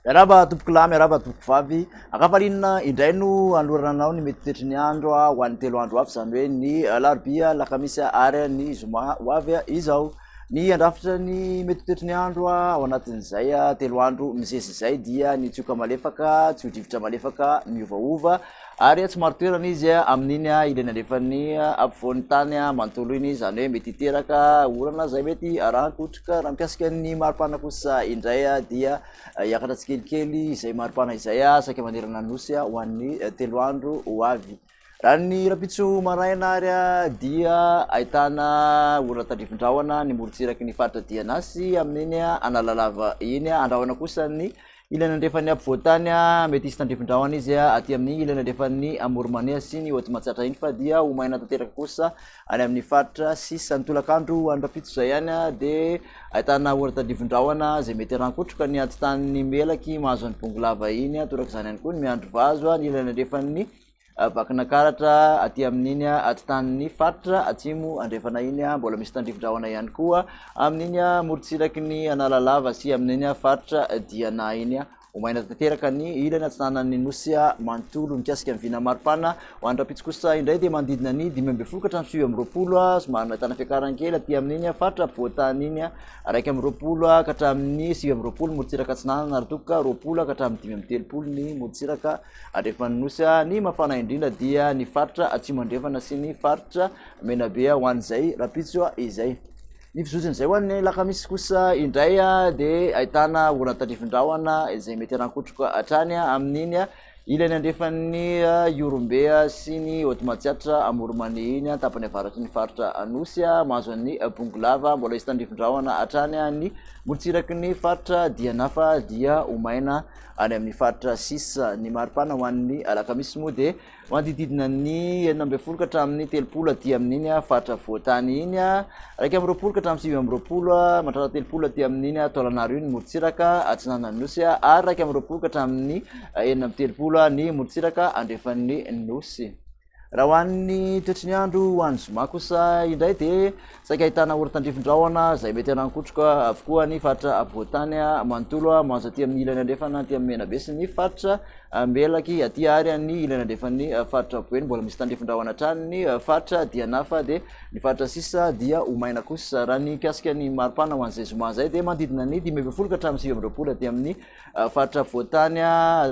Miaraba tompoko lahy, miaraba tompoko vavy. Ankafarinina indray no anlorananao ny mety toetry ny andro ho an'ny telo andro avy, izany hoe ny alarobia, alakamisy ary ny zoma ho avy izao. Ny handrafitra ny mety ho toetry ny andro ao anatin'izay telo andro mizesy izay dia ny tsioka malefaka, tsio-drivotra malefaka miovaova ary tsy maro toerana izy amin'iny ilany andrefan'ny ampovoan'ny tany manontolo iny, izany hoe mety hiteraka orana izay mety arahan-kotroka. Raha mikasika ny maripana kosa indray dia hiakatra tsikelikely izay maripana izay saika manerana ny nosy ho an'ny telo andro ho avy. Raha ny rahampitso maraina ary dia ahitana olona tandrifin-drahona ny morontsiraky ny faritra Dianasy amin'iny Analalava iny. Andrahona kosa ny ilany andrefan'ny ampovoan-tany. Mety hisy tandrifin-drahona izy aty amin'ny ilany andrefan'ny Amoromaneha sy ny Haute Matsiatra iny fa dia ho maina tanteraka kosa any amin'ny faritra sisa. Ny tolakandro ho an'ny rahampitso izay ihany dia ahitana orana tandrifin-drahona izay mety harankotroka ny antontan'ny melaky mahazo an'i Bongolava iny. Torak'izany ihany koa ny miandry vazo any ilany andrefan'ny Vakina karatra aty amin'iny atitanin'ny faritra atsimo andrefana iny, mbola misy tandrifin-drahona ihany koa amin'iny morontsiraky ny Analalava sy amin'iny faritra Diana iny. Omaina tanteraka ny ilany atsinanan'ny nosy manontolo mikasika ny vina maripana. Ho an'ny rahampitso kosa indray dia manodidina ny dimy ambin'ny folo ka hatramin'ny sivy amby roapolo, somary nahitana fiakarany kely aty amin'iny faritra ampovoantany iny, iraika amby roapolo ka hatramin'ny sivy amby roapolo ny morontsiraka atsinanana ary toa ka roapolo ka hatramin'ny dimy amby telopolo ny morontsiraka Andrefan'ny Nosy. Ny mafana indrindra dia ny faritra Atsimo Andrefana sy ny faritra Menabe ho an'izay rahampitso izay. Ny fizotsin'izay ho an'ny alakamisy kosa indray dia ahitana orana tandrifin-drahona izay mety harankotroka hatrany amin'iny ilany andrefan'ny Ihorombe sy ny Haute Matsiatra Amoronmania iny ny tapany avaratry ny faritra Anosy mahazo an'ny Bongolava. Mbola hisy tandrifin-drahona hatrany ny morotsiraky ny faritra Dianafa dia ho maina Any amin'ny faritra sisa ny maripana ho an'ny alakamisy moa dia manodididina ny enina ambin'ny folo ka hatramin'ny telopolo aty amin'iny faritra voatany iny raika amby roapolo ka hatramin'ny sivy amby roapolo matratra telopolo aty amin'iny taolanaro iny morontsiraka atsinanan'ny nosy ary raika amby roapolo ka hatramin'ny enina amby telopolo ny morontsiraka andrefan'ny nosy Raha ho an'ny toetry ny andro ho any zoma kosa indray dia saika ahitana orontandrifin-drahona izay mety hanankotroka avokoa ny faritra afovoan-tany manontolo mahazo aty amin'ny ilany andrefana aty amin'ny Menabe sy ny faritra Melaky aty ary an'ny ilany andrefan'ny faritra Boeny mbola misy tandrifin-drahona hatrany ny faritra Dianafa dia ny faritra sisa dia ho maina kosa raha ny mikasika ny maripana ho an'izay zoma izay dia manodidina ny dimy ambin'ny folo ka hatramin'ny sivy amby roapolo aty amin'ny Faritra voatany,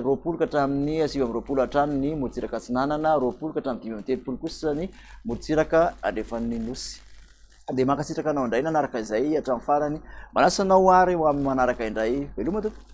roapolo ka hatramin'ny sivy amby roapolo hatrany ny morontsiraka atsinanana, roapolo ka hatramin'ny dimy amby telopolo kosa ny morontsiraka andrefan'ny nosy. Dia mankasitraka anao indray nanaraka izay hatramin'ny farany. Manasa anao ho ary ho amin'ny manaraka indray. Veloma tompoko.